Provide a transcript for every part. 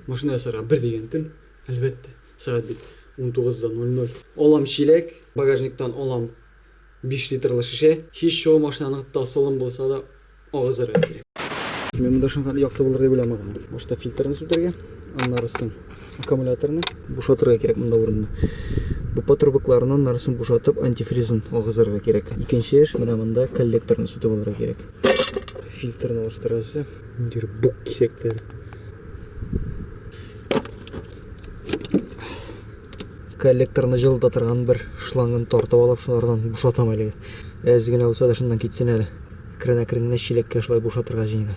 Машина ясарга бер дигән көн, әлбәттә. Сәгать бит унтугыз да ноль ноль. Алам чиләк, багажниктан алам биш литрлы шешә. Һич чыгу машинаның тасылым булса да агызырга кирәк. Мин монда шуңа хәтле якты булыр дип уйламый гына. Башта фильтрны сүтәргә, аннары соң аккумуляторны бушатырга кирәк монда урынны. Бу патрубыкларны аннары соң бушатып антифризын агызырга кирәк. Икенче эш менә монда коллекторны сүтеп алырга кирәк. Фильтрны алыштырасы. Ниндидер бук кисәкләр. Коллекторны җылыта торган бер шлангын тартып алып, шулардан бушатам әле. Әз генә булса да шуннан китсен әле. Әкрен-әкрен генә чиләккә шулай бушатырга җыенам.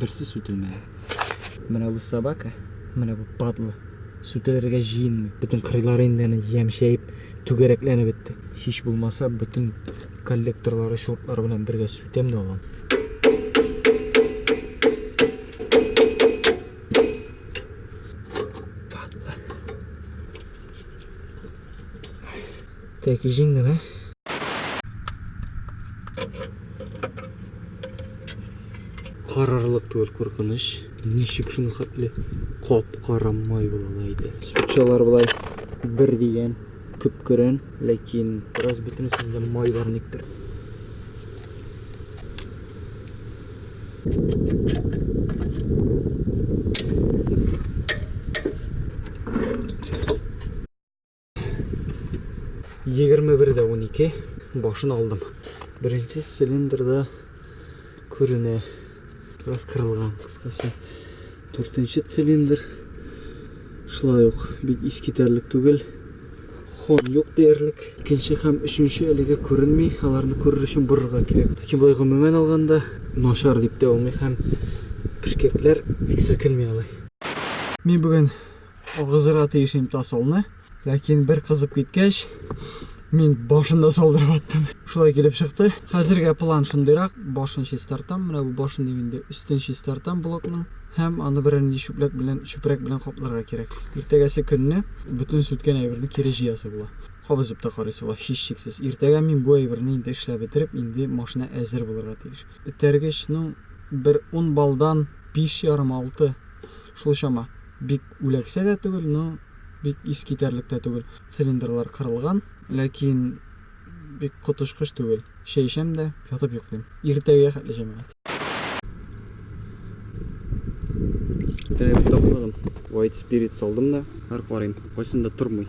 Берсе сүтелмәде. Менә бу собака, менә бу падла сүтелергә җыенмый. Бөтен кырыйлары инде әнә ямьшәеп, түгәрәкләнеп бетте. Һич булмаса, бөтен коллекторлары, шуртлары белән бергә сүтәм дә алам. Тәки җиңдем, ә? Карарлык түгел куркыныч. Ничек шуны хәтле кап-кара май була иде. Сучалар болай бер дигән күпкерен, ләкин бераз бөтенесен дә майлар никтер. 21 дә 12 башын алдым. Беренче цилиндрда күренә. Раз кырылган кыскасы. Дүртенче цилиндр шулай ук бик искитәрлек түгел. Хон юк диярлек. Икенче һәм өченче әлегә күренми. Аларны күрер өчен борырга кирәк. Ләкин болай гомумән алганда начар дип тә булмый һәм пешкәкләр бик селкенми алай. Мин бүген Агызырга тиеш инде тасолны, ләкин бер кызып киткәч, мин башын да салдырып аттым. Шулай килеп чыкты. Хәзергә план шундыйрак, башын чистартам, менә бу башын дим инде, өстен чистартам блокның һәм аны берәр нинди чүпләк белән, чүпрәк белән капларга кирәк. Иртәгәсе көнне бүтән сүткән әйберне кире җыясы була. Кабызып та карыйсы була, һичшиксез. Иртәгә мин бу әйберне инде эшләп бетереп, инде машина әзер булырга тиеш. Этәргеч, ну, бер ун баллдан биш ярым, алты, шул чама. Бик үләксә дә түгел, но бик искитәрлек тә түгел. Цилиндрлар кырылган, ләкин бик коточкыч түгел. Чәй эчәм дә, ятып йоклыйм. Иртәгә хәтле җәмәгать. Иртәгә бик тапмадым. White Spirit салдым да. Хәзер карыйм, кайсында тормый.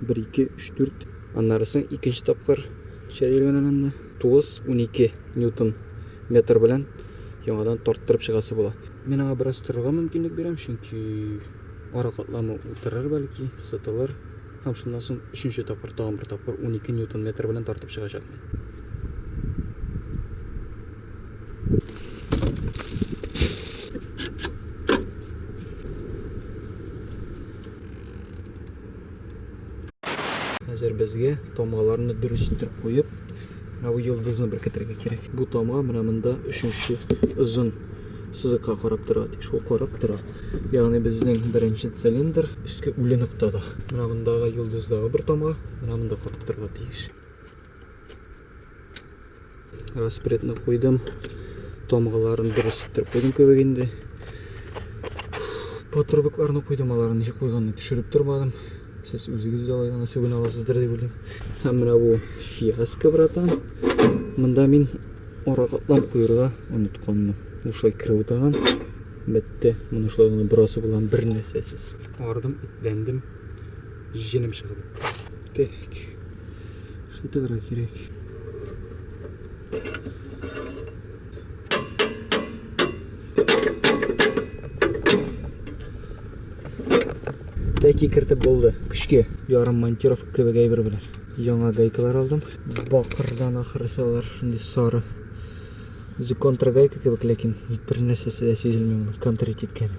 Бер, ике, өч, дүрт. Аннары соң икенче тапкыр чәйрәгәнләрендә 9, унике ньютон метр белән яңадан тарттырып чыгасы була. Мин аңа бераз торырга мөмкинлек бирәм, чөнки ара катламы утырыр бәлки, сытылыр. Һәм шуннан соң өченче тапкыр, тагын бер тапкыр унике ньютон метр белән тартып чыгачакмын. Хәзер безгә тамгаларны дөрес итеп куеп, менә бу йолдызны беркетергә кирәк. Бу тамга менә монда өченче озын сызыкка карап тора, ди. Шул карап тора. Ягъни безнең беренче цилиндр өске үле ноктада. Менә мондагы йолдыздагы бер тамга, менә монда катып торырга тиеш. распредны куйдым тамгаларын дөрес иттереп куйдым кебек инде патрубекларны куйдым аларны ничек куйганын төшереп тормадым сез үзегез дә алай гына сүгенә аласыздыр дип уйлыйм һәм менә бу фиаско братан мында мин аракатлап куерга онытканмын ушай кереп утырган бетте моны шулай гына бераз белән бер нәрсәсез ардым итләндем Җенем чыгып. Так. Шытыграк кирәк. Тәки кертеп булды. Көчкә ярым монтировка кебек әйбер белән. Яңа гайкалар алдым. Бакырдан ахырысы алар шундый сары. Үзе контргайка кебек, ләкин бер нәрсәсе дә сизелми моның контрить иткәне.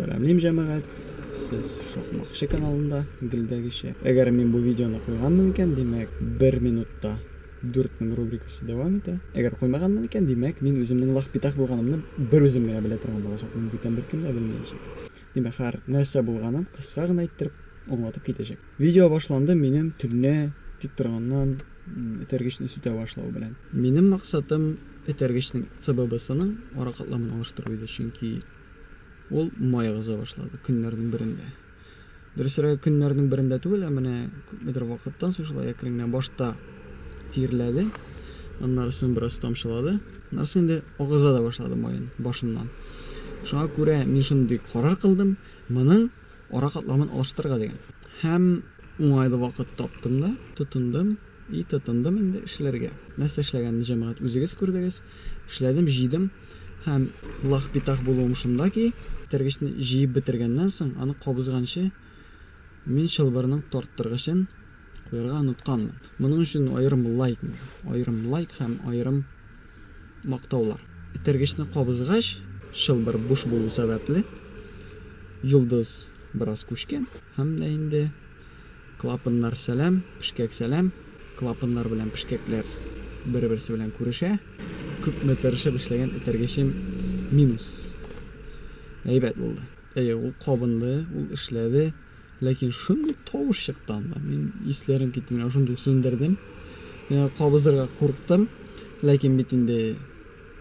Сәламлим җәмәгать, сез Шакмакчы каналында гелдәгечә. Әгәр мин бу видеоны куйганмын икән, димәк, бер минутта 4000 рубрикасы дәвам итә. Әгәр куймаганмын икән, димәк, мин үземнең лахпитах булганымны бер үзем генә белә торган булачакмын, бүтән беркем дә белмәячәк. Димәк, һәр нәрсә булганын кыска гына иттереп аңлатып китәчәк. Видео башланды минем төнлә тик торганнан этәргечне сүтә башлау белән. Минем максатым этәргечнең ЦББ-сының ара катламын алыштыру иде, чөнки Ул май агыза башлады, көннәрнең берендә. Дөресрәге, көннәрнең берендә түгел, ә менә күпмедер вакыттан соң шулай әкрен генә башта тирләде, аннары соң бераз тамчылады, аннары соң инде агыза да башлады майын башыннан. Шуңа күрә мин шундый карар кылдым, моның ара катламын алыштырырга дигән. Һәм уңайлы вакыт таптым да, тотындым. И тотындым инде эшләргә. Нәрсә эшләгәнне җәмәгать үзегез күрдегез. Эшләдем, җыйдым һәм лах-питах булуым шунда ки, тергечне җыеп бетергәннән соң, аны кабызганчы мин чылбырның тарттыргычын куярга онытканмын. Моның өчен аерым лайк миңа. Аерым лайк һәм аерым мактаулар. Тергечне кабызгач, чылбыр буш булу сәбәпле, йолдыз бераз күчкән һәм дә инде Клапаннар сәлам, пешкәк сәлам. Клапаннар белән пешкәкләр бер-берсе белән күрешә. Күпме тырышып эшләгән этәргечем минус. Әйбәт булды. Әйе, ул кабынды, ул эшләде. Ләкин шундый тавыш чыкты анда. Мин исләрем китте, менә шундый сүндердем. Кабызырга курыктым, ләкин бит инде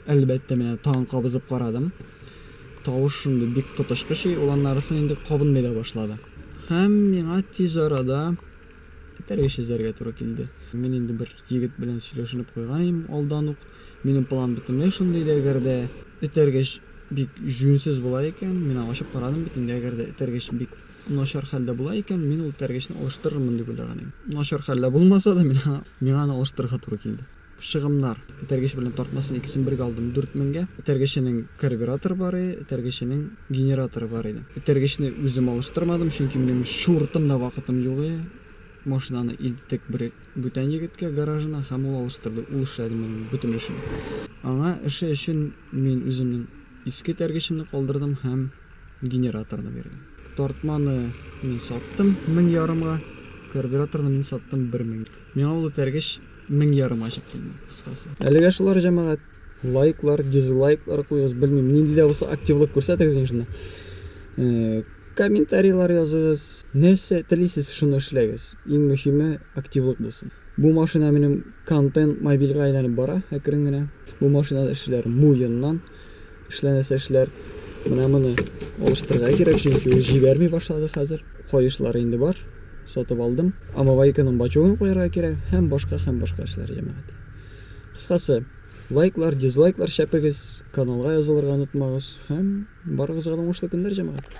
Әлбәттә, менә тагын кабызып карадым. Тавыш шундый бик коточкыч, ул аннарысын инде кабынмый да башлады. Һәм миңа тиз арада этәргеч чизәргә туры килде. Мин инде бер егет белән сөйләшенеп куйган идем алдан ук. Минем план бөтенләй шундый иде, әгәр дә этәргеч бик җүнсез була икән, мин аңа ачып карадым бит инде, әгәр дә этәргеч бик начар хәлдә була икән, мин ул этәргечне алыштырырмын дип уйлаган идем. Начар хәлдә булмаса да, миңа аны алыштырырга туры килде. Чыгымнар. Этәргеч белән тартмасын икесен бергә алдым, дүрт меңгә. Этәргеченең карбюраторы бар иде, этәргеченең генераторы бар иде. Этәргечне үзем алыштырмадым, чөнки минем чуртым да вакытым юк иде. Машинаны илттек бер бүтән егеткә гаражына һәм ул алыштырды, ул эшләде моның бөтен эшен. Аңа эше өчен мин үземнең иске этәргечемне калдырдым һәм генераторны бирдем. Тартманы мин саттым мең ярымга, карбюраторны мин саттым бер меңгә. Миңа ул этәргеч мең ярым ачык килми, кыскасы. Әлегә шулар, җәмәгать. Лайклар, дизлайклар куегыз, белмим, нинди дә булса активлык күрсәтегез инде шунда. Э, комментарийлар языгыз, нәрсә телисез, шуны эшләгез. Иң мөһиме активлык булсын. Бу машина минем контент мобильга әйләнеп бара, әкрен генә. Бу машинада эшләр муеннан. Эшләнәсе эшләр менә моны алыштырырга кирәк, чөнки ул җибәрми башлады хәзер. Каешлар инде бар, сатып алдым. Омывайканың бачугын куярга кирәк һәм башка һәм башка эшләр, җәмәгать. Кыскасы, лайклар, дизлайклар чәпегез, каналга язылырга онытмагыз һәм барыгызга да уңышлы көннәр, җәмәгать!